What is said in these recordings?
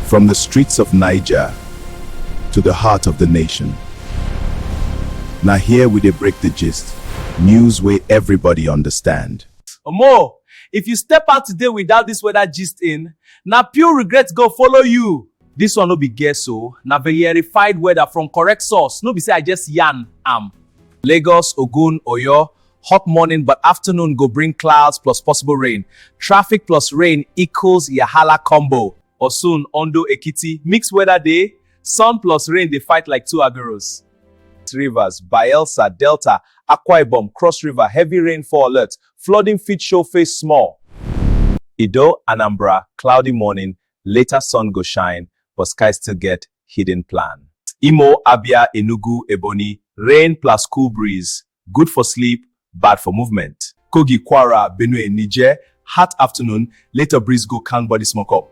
From the streets of Niger to the heart of the nation. Now here we dey break the gist, news wey everybody understand. Omo, if you step out today without this weather gist in, na pure regret go follow you. This one no be guess o, na verified weather from correct source, no be say I just yarn am. Lagos, Ogun, Oyo, Hot morning but afternoon go bring clouds plus possible rain. Traffic plus rain equals Yahala combo. Osun, Ondo, Ekiti, mixed weather day, sun plus rain dey fight like two aguros. Rivers, Bayelsa, Delta, Akwa Ibom, Cross River, heavy rainfall alert, flooding fit show face small. Ido, Anambra, cloudy morning, later sun go shine, but sky still get hidden plan. Imo, Abia, Enugu, Ebonyi, rain plus cool breeze, Good for sleep, bad for movement. Kogi, Kwara, Benue, Niger, hot afternoon, later breeze go calm body smoke up.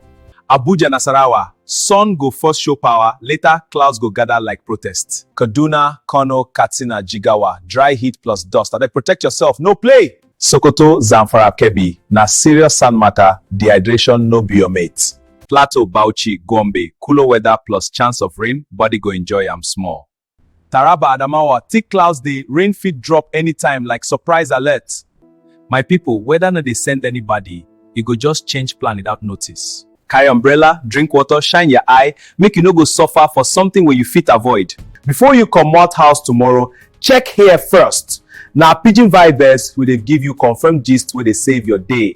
Abuja, Nasarawa, sun go first show power, later clouds go gather like protest. Kaduna, Kano, Katsina, Jigawa, dry heat plus dust. Abeg protect yourself, no play! Sokoto, Zamfara, Kebbi, na serious sand matter, dehydration no be your mate. Plateau, Bauchi, Gombe, cooler weather plus chance of rain, body go enjoy am small. Taraba Adamawa thick clouds dey rain fit drop anytime like surprise alert my people weather no dey send anybody e go just change plan without notice. Carry umbrella, drink water, shine your eye make you no go suffer for something wey you fit avoid. Before you comot house tomorrow, check here first. Na Pidgin Vibes we dey give you confirmed gist wey dey save your day.